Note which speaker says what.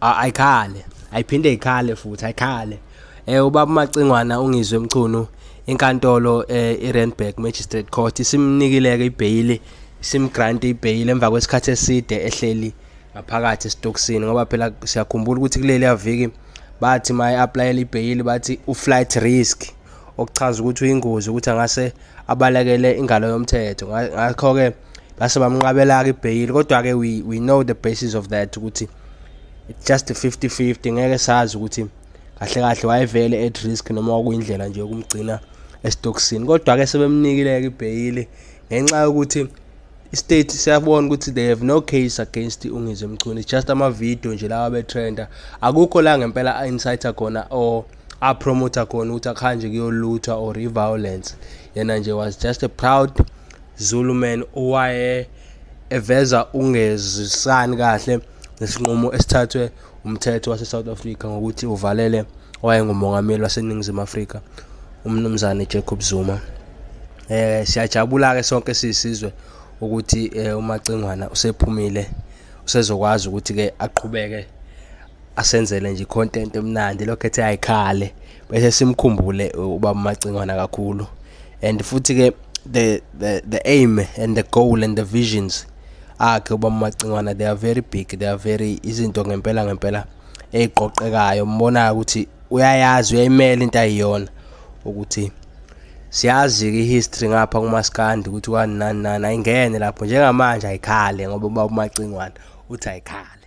Speaker 1: ayikhale
Speaker 2: ayiphinde ikhale futhi ayikhale eh ubaba Macingwana ungizwe emchunu inkantolo eh, iRandburg Magistrate Court isimnikileke ibheyili simgrant ibheyili emva kwesikhathi eside ehleli ngaphakathi esitokisini ngoba phela siyakhumbula ukuthi kuleli aviki bathi ma i-aplayela ibheyili bathi u-flight risk okuchaza ukuthi uyingozi ukuthi angase abalekele ingalo yomthetho ngakho-ke base bamnqabela-ke ibheyili kodwa-ke we, we know the basis of that ukuthi it's just 50 50 ngeke sazi ukuthi kahle kahle wayevele at risk noma kwakuyindlela nje yokumgcina esitokisini kodwa-ke sebemnikile-ke ibheyili ngenxa yokuthi istate siyabona ukuthi they have no case against ungizwe mchunu it's just ama-video nje lawa betrenda akukho la ngempela a-inciter khona or apromoter khona ukuthi akuhanje kuyoluthwa or i-violence yena nje was just a proud zulu man owaye eveza ungezisani kahle nesinqumo esithathwe umthetho wase-south africa ngokuthi uvalele owayengumongameli waseningizimu afrika umnumzane jacob zuma um siyajabula-ke sonke siyisizwe ukuthi um umacingwana usephumile usezokwazi ukuthi-ke aqhubeke asenzele nje i-content emnandi lokho ethe ayikhale bese simkhumbule uba umacingwana kakhulu and futhi-ke the, the, the aim and the goal and the visions akhe ubaba Macingwana they are very big they are very izinto ngempela ngempela eziqoqekayo umbonayo ukuthi uyayazi uyayimela into ayiyona ukuthi siyazi-ke i-history ngapha kumaskandi ukuthi kwani nani nani ayingene lapho njengamanje ayikhale ngoba ubaba umacingwana uthi ayikhale